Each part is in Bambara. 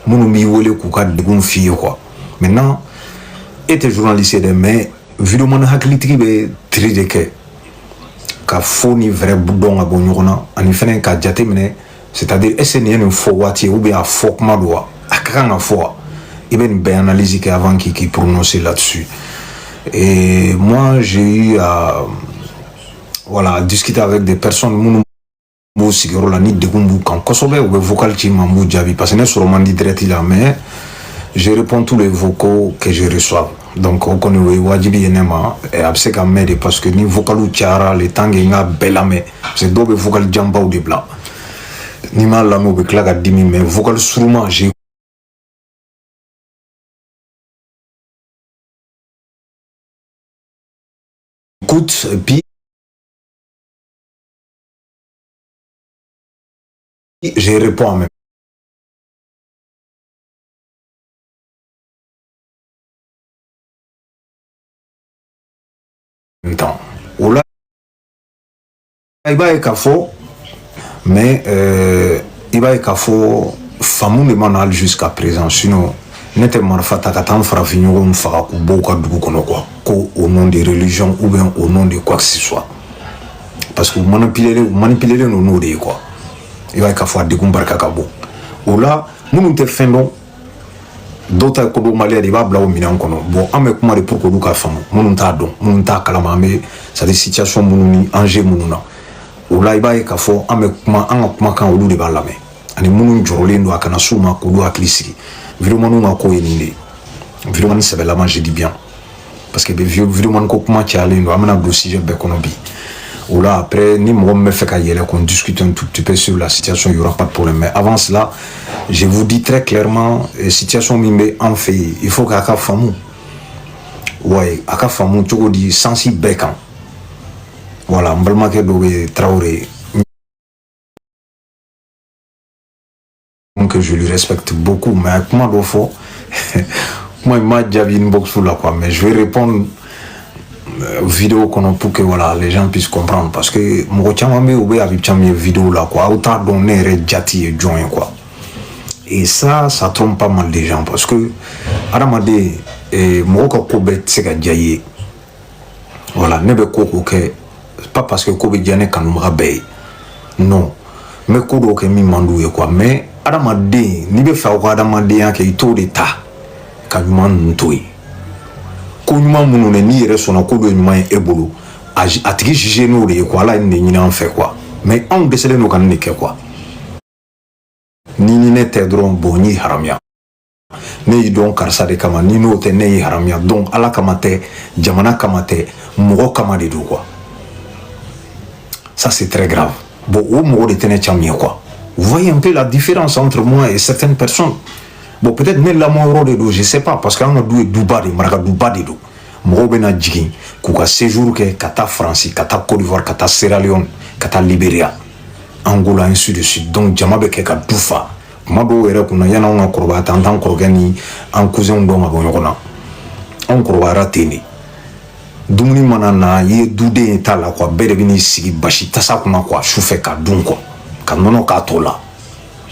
minnu b'i wele k'u ka degun f'i ye quoi maintenant e tɛ journaliste ye dɛ mais videoman hakilitigi bɛ tri de kɛ ka faux ni vrai dɔn ka bɔ ɲɔgɔn na ani fɛnɛ ka jate minɛ c'est à dire est ce que nin ye nin fɔ waati ye ou bien a fɔ kuma don wa a ka kan ka fɔ wa i bɛ nin bɛɛ analyse kɛ avant k'i k'i prononcer là-dessus et moi j'ai eu à voilà discuter avec des personnes minnu b'u sigiyɔrɔ la ni degun b'u kan kosɛbɛ u bɛ vocal ci ma n b'u jaabi parce que ne sɔrɔ man di direct la mais je réponds tous les vocaux que je reçois donc o kɔni o ye wajibi ye ne ma a bɛ se ka mɛɛn de parce que ni vocaliw cayara le temps que n k'a bɛɛ lamɛn parce que dɔw bɛ vocal janbaw de bila n'i m'a lamɛn u bɛ tila ka dimi mais vocal surunman j'écoute et puis je réponds en même temps o la i b'a ye k'a fɔ mais euh, i b'a ye k'a fɔ faamu de ma na hali jusqu'à présent sinon ne tɛ marifa ta ka taa n farafinɲɔgɔnw faga k'u bɔ u ka dugu kɔnɔ quoi ko au nom de religion ou bien au nom de quoi que ce soit parce que u manipulelen u manipulelen don n'o de ye quoi i b'a ye k'a fɔ a degun barika ka bon o la minnu tɛ fɛn dɔn dɔw ta ye kodɔnbaliya de i b'a bila o minɛn kɔnɔ bon an bɛ kuma de pour que olu k'a faamu minnu t'a dɔn minnu t'a kalama an bɛ c'est à dire situation minnu ni enjeu minnu na o la i b'a ye k'a fɔ an bɛ kuma an ka kumakan olu de b'a lamɛn ani minnu jɔrɔlen don a kana s'u ma k'olu hakili sigi videomanw ka ko ye nin de ye videoman sɛbɛlama je dis bien parce que videomani ko kuma cayalen don an bɛna don sujet bɛɛ kɔnɔ bi o la après ni mɔgɔ min bɛ fɛ ka yɛlɛ qu'on discute un tout petit peu sur la situation il y aura pas de problème mais avant cela je vous dis très clairement eh, situation min bɛ an fɛ yen il faut qu'a k'a faamu ouais a k'a faamu cogo di sens bɛɛ kan voilà n balimakɛ dɔ bɛ Traoré que je lui respecte beaucoup mais a kuma dɔ fɔ kuma in ma jaabi inbox la quoi mais je vais répondre euh, vidéo kɔnɔ pour que voilà les gens puissent comprendre parce que mɔgɔ caman bɛ yen u bɛ avis caman ye vidéo la quoi aw t'a dɔn ne yɛrɛ jati ye jɔn ye quoi et ça ça trompe pas mal des gens parce que adamaden eh, mɔgɔ ka ko bɛɛ tɛ se ka diya i ye voilà ne bɛ ko o ko kɛ pas parce que ko bɛ diya ne kanubaga bɛɛ ye non n bɛ ko dɔw kɛ min man d'u ye quoi mais adamaden n'i b'a fɛ aw ka adamadenya kɛ i t'o de ta ka ɲuman ninnu to yen ko ɲuman minnu ne n'i yɛrɛ sɔnna k'olu ye ɲuman ye e bolo a a tigi juger n'o de ye quoi ala ye nin de ɲini an fɛ quoi mais anw dɛsɛlen don ka nin de kɛ quoi ni ni ne tɛ dɔrɔn bon n y'i haramuya ne y'i dɔn karisa de kama ni n'o tɛ ne y'i haramuya donc ala kama tɛ jamana kama tɛ mɔgɔ kama de don quoi ça c'est très grave bon o mɔgɔ de tɛ ne camu ye quoi vous voyez un peu la différence entre moi et certaines personnes bon peut-être ne lamɔ yɔrɔ de don je sais pas parce que an ka du ye duba de maraka duba de don mɔgɔw bɛna jigin k'u ka séjour kɛ ka taa faransi ka taa côte d'ivoire ka taa sierra leone ka taa liberia angola ainsi de suite donc jama bɛ kɛ ka du fa kuma dɔw yɛrɛ kunna na yan'anw ka kɔrɔbaya ta an t'an kɔrɔkɛ ni an cousinw dɔn ka bɔ ɲɔgɔn na anw kɔrɔbayara ten de dumuni mana na i ye duden ye t'a la quoi bɛɛ de bɛ n'i sigi basi tasa kunna quoi su fɛ ka dun quoi ka nɔnɔ k'a tɔ la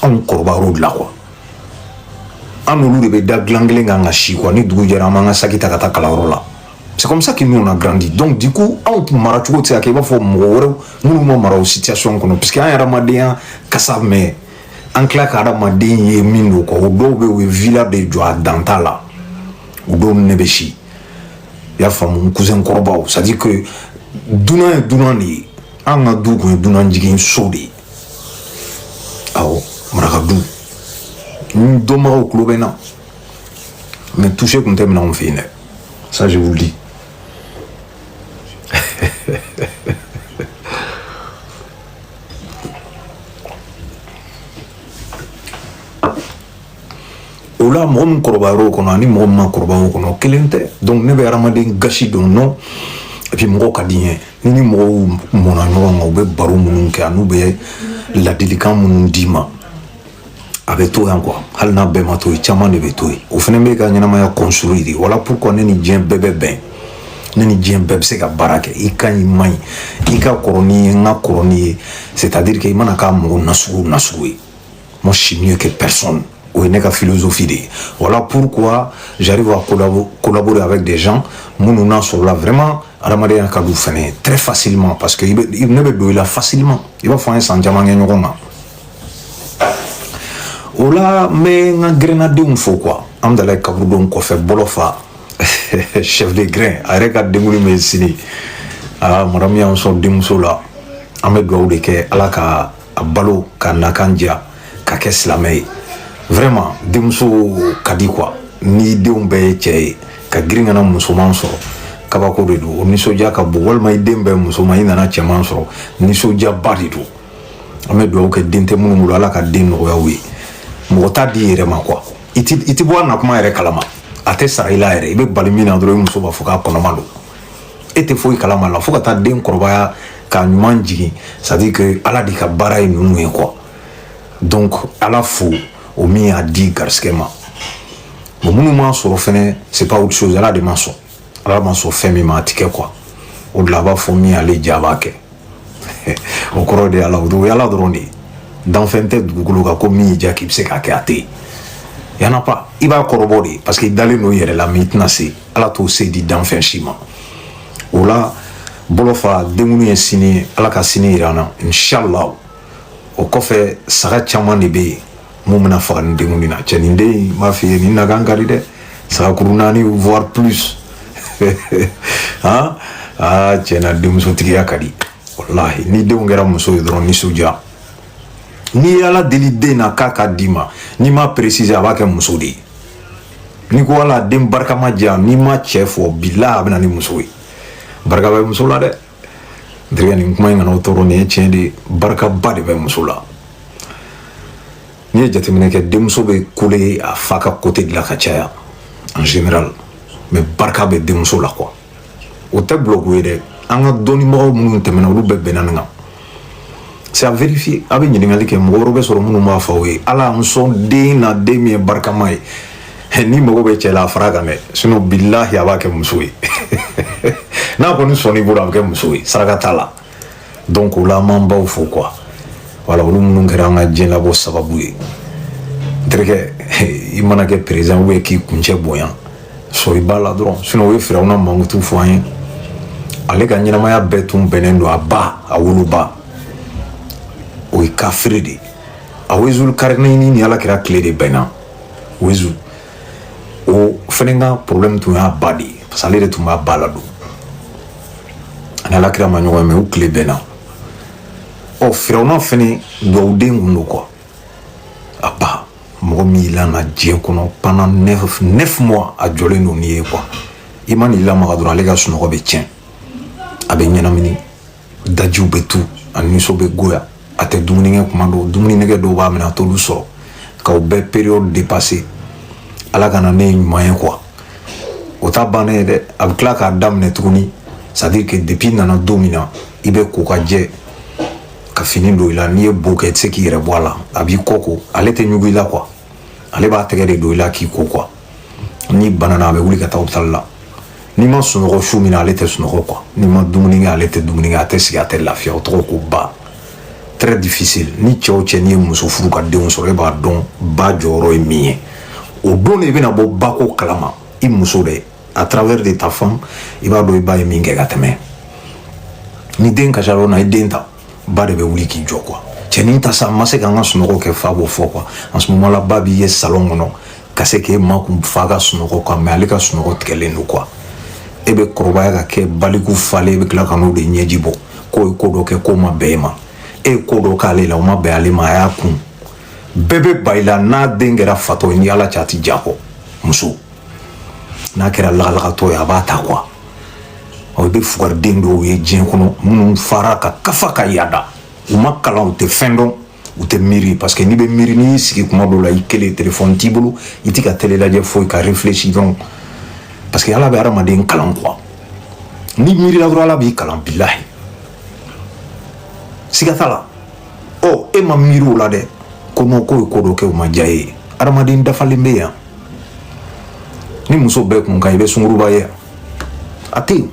anw kɔrɔbayar'o de la quoi an n'olu de bɛ da dilan kelen kan ka si quoi ni dugu jɛra an b'an ka saki ta ka taa kalanyɔrɔ la c'est comme ça que nous on a grandi donc du coup anw tun mara cogo tɛ se ka kɛ i b'a fɔ mɔgɔ wɛrɛw minnu ma mara o situation kɔnɔ puisque an ye adamadenya kasa mɛn an tila ka adamaden ye min dɔn quoi o dɔw bɛ u ye villa de jɔ a danta la o dɔw ne bɛ si i y'a faamu n cousin kɔrɔbaw c'est à dire que dunan ye dunan de ye an ka du kun ye dunan jigin so de ye awɔ maraka du n dɔnbagaw tulo bɛ n na mais touche kun tɛ minɛ anw fɛ yen dɛ ça je vous le dis o la mɔgɔ min kɔrɔbayara o kɔnɔ ani mɔgɔ min ma kɔrɔbaya o kɔnɔ kelen tɛ donc ne bɛ hadamaden gasi dɔn non et puis mɔgɔ ka di n ye ni ni mɔgɔw mɔna ɲɔgɔn kan u bɛ baro minnu kɛ an'u bɛ ladilikan minnu d'i ma a bɛ to yan quoi hali n'a bɛɛ ma to yen caman de bɛ to yen o fana bɛ ka ɲɛnamaya construire de voilà pourquoi ne ni diɲɛ bɛɛ bɛ bɛn ne ni diɲɛ bɛɛ bɛ se ka baara kɛ i ka ɲi i man ɲi i ka kɔrɔ ni n ye n ka kɔrɔ n'i ye c'est à dire que i mana kɛ mɔgɔ nasugu nasugu ye moi je suis mieux que personne o ye ne ka philosophie de ye voilà pourquoi j'arrive à collaborer avec des gens minnu n'a sɔrɔla vraiment adamadenya ka d'u fana ye très facilement parce que i bɛ ne bɛ don i la facilement i b'a fɔ an ye san caman kɛ ɲɔgɔn kan o la n bɛ n ka gɛrɛnnadenw fo quoi hamdallaye kaburudo kɔfɛ bolofa chef de grin a yɛrɛ ka denkundi bɛ sini aa madamu y'an sɔn denmuso la an bɛ dugawu de kɛ ala ka a balo ka nakan diya ka kɛ silamɛ ye vraiment denmuso ka di quoi ni denw bɛɛ ye cɛ ye ka girin ka na musoman sɔrɔ kabako de don o nisɔndiya ka bon walima i den bɛɛ musoman i nana cɛman sɔrɔ nisɔndiyaba de don an bɛ dugawu kɛ den tɛ minnu bolo ala ka den nɔgɔya u ye mɔgɔ t'a di yɛrɛ ma quoi i tɛ bɔ a na kuma yɛrɛ kalama a tɛ sara i la yɛrɛ i bɛ bali min na dɔrɔn i muso b'a fɔ k'a kɔnɔma don e tɛ foyi kalama la fo ka taa den kɔrɔbaya k'a ɲuman jigin c'est à dire que ala de ka baara ye ninnu ye quoi donc ala fo o min y'a di garisigɛ ma bon minnu m'a sɔrɔ fɛnɛ c'est pas autre chose ala de m'a sɔn ala ma sɔn fɛn min ma a ti kɛ quoi o de la a b'a fɔ min ale diya a b'a kɛ o kɔrɔ de ala o ye ala dɔrɔn de ye danfɛn tɛ dugukolo kan ko min y'i diya k'i bɛ se k'a kɛ a tɛ yen y en a pas i b'a kɔrɔbɔ de ye parce que i dalen don i yɛrɛ la mais i tɛna se ala t'o se di danfɛn si ma o la bolofa denkundi ye sini ye ala ka sini yira an na inshallah o kɔfɛ saga caman de bɛ yen mun bɛna faga nin denkundi na cɛ nin den in m'a f'i ye nin nakan ka di dɛ sagakuru naani voire plus han aa cɛna denmusotigiya ka di walahi n'i den kɛra muso ye dɔrɔn nisɔndiya n'i ye ala deli den na k'a k'a d'i ma n'i ma préciser a b'a kɛ muso de ye n'i ko ala den barikama di yan n'i ma cɛ fɔ bilahi a bɛ na ni muso ye barika bɛ muso la dɛ terikɛ nin kuma in kana aw tɔɔrɔ nin ye tiɲɛ de ye barikaba de bɛ muso la n'i ye jateminɛ kɛ denmuso bɛ couler a fa ka côté de la ka caya en général mais barika bɛ denmuso la quoi o tɛ blague ye dɛ an ka dɔnnibagaw minnu tɛmɛna olu bɛɛ bɛnna nin kan c'est à vérifier a bɛ ɲininkali kɛ mɔgɔ wɛrɛ bɛ sɔrɔ minnu b'a fɔ aw ye ala n sɔn den na den min ye barikama ye n'i mago bɛ cɛ la a fara kan dɛ sinon bilahi a b'a kɛ muso ye n'a kɔni sɔnn'i bolo a bɛ kɛ muso ye saraka t'a la donc o la an b'an baw fo quoi voilà olu minnu kɛra an ka diɲɛ labɔ sababu ye n terikɛ i mana kɛ président ou bien k'i kuncɛ bonya sɔrɔ i b'a la dɔrɔn sinon u ye firawuna mankutu fɔ an ye ale ka ɲɛnamaya bɛɛ tun bɛnnen don a ba a woloba o ye kafiri de ye a wezulu karinini ni ala kira tile de bɛnna wezu o fɛnɛ ka problème tun y'a ba de ye parce que ale de tun b'a ba ladon ani ala kira ma ɲɔgɔn ye mais u tile bɛnna ɔ firawuna fɛnɛ dugawuden tun don quoi a ba mɔgɔ min y'i lana diɲɛ kɔnɔ pendant neuf neuf mois a jɔlen don n'i ye quoi i man'i lamaga dɔrɔn ale ka sunɔgɔ bɛ tiɲɛ a bɛ ɲɛnamini dajiw bɛ tu a nisɔn bɛ goya a tɛ dumuni kɛ kuma dɔw dumuni nɛgɛ dɔw b'a minɛ a t'olu sɔrɔ k'o bɛɛ période dépasser ala ka na n'e ye ɲuman ye quoi o t'a bannen ye dɛ a bɛ tila k'a daminɛ tuguni c'est à dire que depuis i nana don min na i bɛ ko ka jɛ ka fini don i la n'i ye bo kɛ i tɛ se k'i yɛrɛ bɔ a la a b'i kɔ ko ale tɛ ɲugu i la quoi ale b'a tɛgɛ de don i la k'i ko quoi n'i banana a bɛ wuli ka taa opitali la n'i ma sunɔgɔ su min na ale tɛ sunɔgɔ quoi n'i ma dumuni kɛ ale tɛ dumuni kɛ a tɛ sigi a tɛ lafiya o tɔgɔ ko ba très difficile ni cɛ o cɛ n'i ye muso furu ka denw sɔrɔ e b'a dɔn ba jɔyɔrɔ ye min ye o don de i bɛna bɔ ba ko kalama i muso de à travers de ta femme i b'a dɔn i ba ye min kɛ ka tɛmɛ ni den kasira o na i den ta ba de bɛ wuli k'i jɔ quoi cɛnin ta sa an ma se k'an ka sunɔgɔ kɛ fa b'o fɔ quoi en ce moment là ba b'i ye salon kɔnɔ ka se k'e makun fa ka sunɔgɔ quoi mais ale ka sunɔgɔ tigɛlen don quoi e bɛ kɔrɔbaya ka kɛ baliku falen e bɛ tila ka n'o de ɲɛji bɔ k'o ye ko dɔ kɛ k'o ma bɛn e ma e ye ko dɔ k'ale la o ma bɛn ale ma a y'a kun bɛɛ bɛ ban i la n'a den kɛra fatɔ ye ni ala cɛ a ti ja kɔ muso n'a kɛra lagalagatɔ ye a b'a ta quoi aw bɛ fugariden dɔw ye diɲɛ kɔnɔ minnu fara ka kafa ka yaada u ma kalan u tɛ fɛn dɔn u tɛ miiri parce que n'i bɛ miiri n'i y'i sigi kuma dɔw la i kelen telefɔni t'i bolo i tɛ ka tele lajɛ foyi ka réfléchir dɔrɔn parce que ala bɛ hadamaden kalan quoi n'i miirila dɔrɔn ala b'i kalan bilahi siga t'a la ɔ e ma miiri o la dɛ ko non k'o ye ko dɔ kɛ o ma diya e ye adamaden dafalen bɛ yan ni muso bɛɛ kun kan i bɛ sunguruba ye a tɛ yen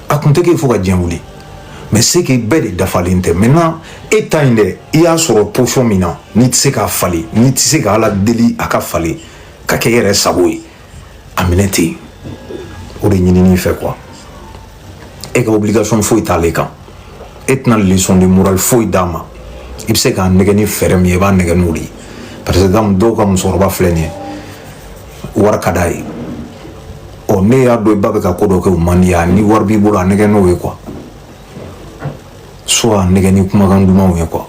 a kun tɛ k'e fo ka diɲɛ wuli mais c'est que bɛɛ de dafalen tɛ maintenant e ta in dɛ i y'a sɔrɔ position min na n'i tɛ se k'a falen n'i tɛ se ka ala deli a ka falen ka kɛ i yɛrɛ sago ye a minɛ ten o de ɲinin'i fɛ quoi e ka obligation foyi t'ale kan e tɛna leçon de morale foyi d'a ma i bɛ se k'a nɛgɛ ni fɛɛrɛ min ye i b'a nɛgɛ n'o de ye par exemple dɔw ka musokɔrɔba filɛ nin ye wari ka d'a ye ɔ ne y'a dɔn i ba bɛ ka ko dɔ kɛ o man d'i ye ni wari b'i bolo a nɛgɛ n'o ye quoi soit a nɛgɛ ni kumakan dumanw ye quoi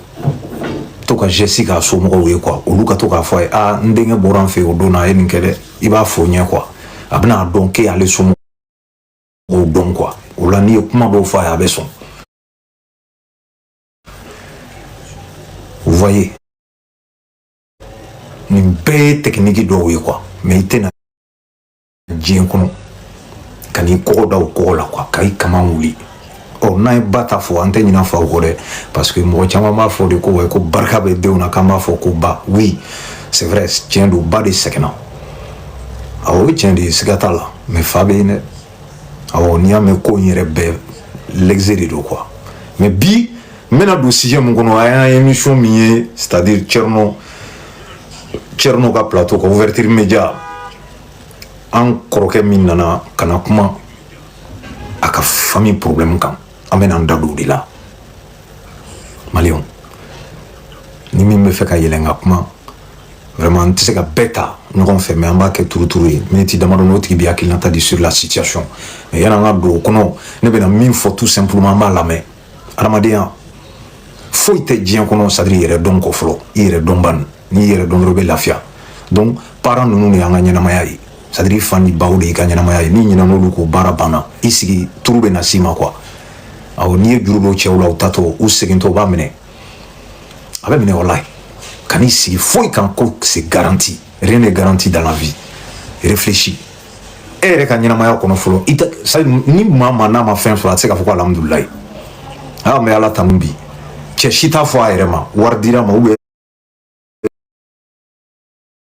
to ka geste k'a somɔgɔw ye quoi olu ka to k'a fɔ a ye aa n denkɛ bɔra an fɛ o don na a ye nin kɛ dɛ i b'a fɔ ɲɛ quoi a bɛna a dɔn k'e y'ale somɔgɔw dɔn quoi o la n'i ye kuma dɔw fɔ a ye a bɛ sɔn vous voyez nin bɛɛ ye tɛkiniki dɔw ye quoi mais i tɛna diɲɛ kɔnɔ ka n'i kɔgɔ da o kɔgɔ la quoi ka i kama wuli ɔ n'an ye ba ta fɔ an tɛ ɲina faw kɔ dɛ parce que mɔgɔ caman b'a fɔ de ko ouais ko barika bɛ denw na k'an b'a fɔ ko ba oui c'est vrai tiɲɛ don ba de sɛgɛnna awɔ o ye tiɲɛ de ye siga t'a la mais fa bɛ yen dɛ awɔ n'i y'a mɛn ko in yɛrɛ bɛɛ l'excès de don quoi mais bi n bɛna don sujet min kɔnɔ an y'a émission min ye c'est à dire Thierno Thierno ka plateau kan ouverture média an kɔrɔkɛ min nana ka na kuma a ka famille problème kan an bɛna an da don o de la maliyɛnw ni min bɛ fɛ ka yɛlɛn ka kuma vraiment n tɛ se ka bɛɛ ta ɲɔgɔn fɛ mais an b'a kɛ turuturu ye miniti damadɔ n'o tigi b'a hakilinata di sur la situation mais yan'an ka don o kɔnɔ ne bɛna min fɔ tout simplement an b'a lamɛn adamadenya foyi tɛ diɲɛ kɔnɔ c'est à dire i yɛrɛ dɔn ko fɔlɔ i yɛrɛ dɔn ban n'i yɛrɛ dɔn dɔrɔn i bɛ lafiya donc parents ninnu de y'an ka ɲɛnamaya ye c'est à dire i fa ni baw de y'i ka ɲɛnamaya ye n'i ɲinɛna olu kɔ baara banna i sigi tour bɛ na s'i ma quoi awɔ n'i ye juru don cɛw la u taatɔ u segintɔ u b'a minɛ a bɛ minɛ walayi kan'i sigi foyi kan ko c'est garanti rien n'est garanti dans la vie réfléchis e yɛrɛ ka ɲɛnamaya kɔnɔ fɔlɔ i tɛ sa ni maa maa n'a ma fɛn sɔrɔ a tɛ se k'a fɔ ko alihamudulilayi a n bɛ ala tanu bi cɛ si t'a fɔ a yɛrɛ ma wari dira ma ou bien